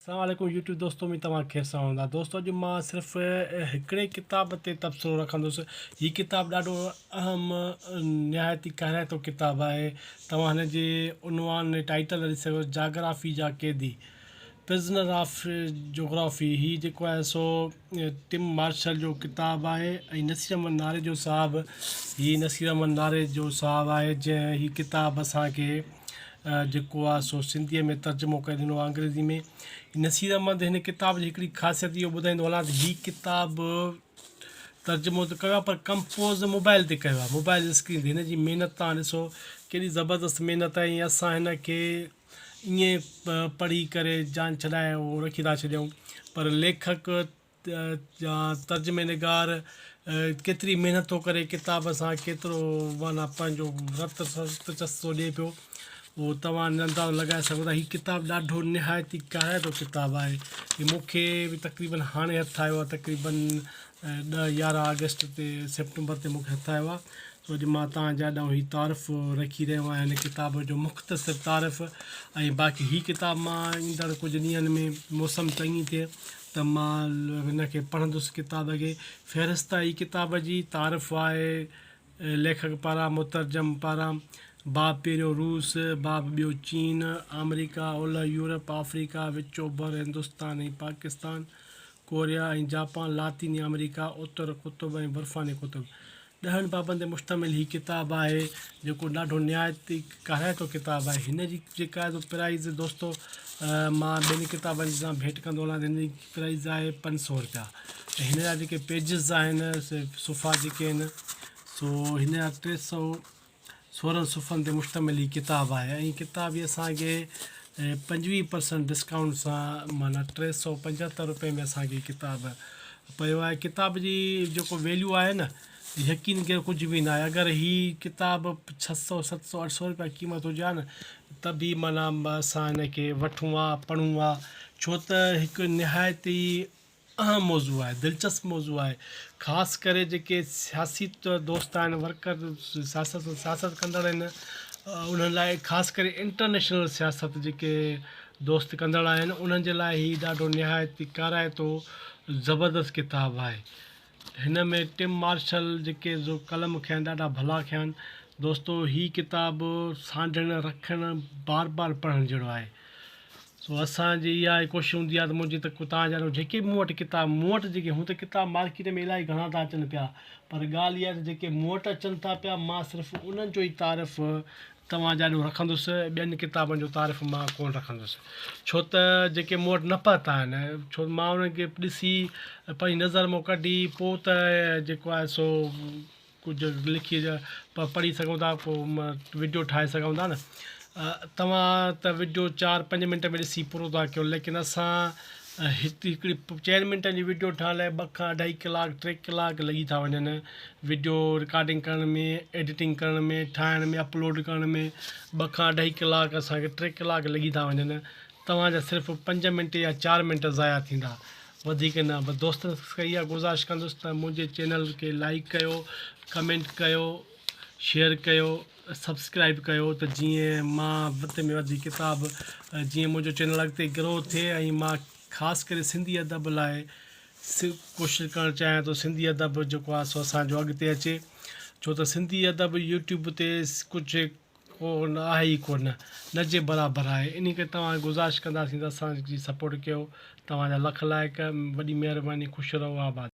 السلام عليڪم يوٽيوب دوستو اميد توهان خير سان هوندا دوستو اڄ مان صرف هڪڙي ڪتاب تي تبصرو رکندس هي ڪتاب ڏاڍو اهم نهايت ئي ڪارائتو ڪتاب آهي توهان هن جي عنوان ٽائيٽل ڏسي سگهو جاگرافي جا قيدي پرزنر آف جغرافي هي جيڪو آهي سو ٽم مارشل جو ڪتاب آهي ۽ نصير احمد ناريجو صاحب هي نصير احمد ناريجو صاحب آهي جنهن هي ڪتاب اسان کي جيڪو آهي سو سنڌيء ۾ ترجمو ڪري ڏنو آهي انگريزي ۾ نصير احمد هن ڪتاب جي هڪڙي خاصيت اهو ٻڌائيندو هلان ته هي ڪتاب ترجمو ته ڪيو آهي پر ڪمپوز موبائل تي ڪيو آهي موبائل اسڪرين تي هن جي محنت تان ڏسو ڪيڏي زبردست محنت آهي ۽ اسان هن کي ائين پڙهي ڪري جان ڇڏائي اهو رکي ٿا ڇڏيون پر ليکڪ يا ترجمي نگار ڪيتري محنت ٿو ڪري ڪتاب سان ڪيترو معنيٰ پنهنجو رت رت چس ٿو ڏئي پيو اهو توهان نه اندازو لڳائي سگهو ٿا هي ڪتاب ڏاڍو نهايت ئي ڪارائتو ڪتاب آهي هي مون کي به تقريبن هاڻي هٿ آيو آهي تقريبن ڏهه يارهن آگسٽ تي سيپٽمبر تي مون کي هٿ آيو آهي سو اڄ مان توهان جي آڏو هي تعارف رکي رهيو آهيان هن ڪتاب جو مختصر تعارف ۽ باقي هي ڪتاب مان ايندڙ ڪجهه ڏينهن ۾ موسم چڱي ٿئي ته مان هن کي پڙهندس ڪتاب کي فهرست هي ڪتاب جي تعارف آهي ليکڪ پاران مترجم پاران باب پهريون روس، باب ٻيو چين، آمريڪا، اولهه يورپ، آفريڪا، وچ اوڀر، هندستان ۽ پاڪستان، ڪوريا ۽ جاپان، لاطيني آمريڪا، اتر قطب ۽ برفاني قطب. ڏهن بابن تي مشتمل هي ڪتاب آهي، جيڪو ڏاڍو نهايت ئي. ڪارائتو ڪتاب آهي هن جي جيڪا پرائز دوستو مان ٻين ڪتابن جي سان ڀيٽ ڪندو هلان هن جي پرائز آهي پنج سو روپيا ۽ هن جا جيڪي پيجز آهن سي صفحا جيڪي آهن سو هن جا ٽي سو سورهن صفحن تي مشتمل هي ڪتاب آهي ۽ هي ڪتاب هي اسانکي پنجويهه پرسنٽ ڊسڪائونٽ سان معنيٰ ٽي سو پنجهتر روپئي ۾ اسانکي هي ڪتاب پيو آهي ڪتاب جي جيڪو ويليو آهي نه يقين ڪيو ڪجهه به ناهي اگر هي ڪتاب ڇهه سؤ ست سؤ اٺ سؤ روپيا قيمت هجي ها نه ته به معنيٰ اسان هن کي وٺون ها پڙهون ها ڇو ته هڪ نهايت ئي اهم موضوع آهي دلچسپ موضوع آهي خاص ڪري جيڪي سياسي دوست آهن ورڪر سياست سياست ڪندڙ آهن انهن لاء خاص ڪري انٽرنيشنل سياست جيڪي دوست ڪندڙ آهن انهن جي لاء هي ڏاڍو نهايت ڪارائتو زبردست ڪتاب آهي هن ۾ ٽم مارشل جيڪي جو قلم کين ڏاڍا ڀلا کيان دوستو هي ڪتاب سانڍڻ رکڻ بار بار پڙهڻ جهڙو آهي سو اسان جي اها ئي ڪوشش هوندي آهي ته منهنجي ته ڪتان جهڙو جيڪي مون وٽ ڪتاب مون وٽ جيڪي هون ته ڪتاب مارڪيٽ ۾ الاهي گهڻا ٿا اچن پيا پر ڳالهه اها آهي ته جيڪي مون وٽ اچن ٿا پيا مان صرف انهن جو ئي تعارف توهان جاڏو رکندس، ٻين ڪتابن جو تعارف مان ڪونه رکندس، ڇو ته جيڪي مون وٽ نه پهتا آهن، ڇو ته مان انهن کي ڏسي، پنهنجي نظر مان ڪڍي، پوء ته جيڪو آهي سو ڪجهه لکي پڙهي سگهون ٿا، ڪو وڊيو ٺاهي سگهون ٿا نه. توهان ته وڊيو چار پنج منٽ ۾ ڏسي پورو ٿا ڪيو، ليڪن اسان ۽ هتي هڪڙي چئن منٽن جي وڊيو ٺاهڻ لاء ٻه کان اڍائي ڪلاڪ ٽي ڪلاڪ لڳي ٿا وڃن وڊيو رڪارڊنگ ڪرڻ ۾ ايڊيٽنگ ڪرڻ ۾ ٺاهڻ ۾ اپلوڊ ڪرڻ ۾ ٻه کان اڍائي ڪلاڪ اسان کي ٽي ڪلاڪ لڳي ٿا وڃن توهان جا صرف پنج منٽ يا چار منٽ ضايع ٿيندا وڌيڪ نه بس دوستن کي اها گذارش ڪندس ته منهنجي چينل کي لائڪ ڪيو ڪمينٽ ڪيو شيئر ڪيو سبسڪرائب ڪيو ته جيئن مان وڌ ۾ وڌ ڪتاب جيئن منهنجو چينل اڳتي گرو ٿئي ۽ مان خاص ڪري سنڌي ادب لاء ڪوشش ڪرڻ چاهيان ٿو سنڌي ادب جيڪو آهي سو اسانجو اڳتي اچي ڇو ته سنڌي ادب يوٽيوب تي ڪجهه ڪو آهي ئي ڪو نه نه جي برابر آهي اني ڪري توهان گذارش ڪنداسين ته اسانجي سپورٽ ڪيو توهان جا لک لائق وڏي مهرباني خوش رهو آباد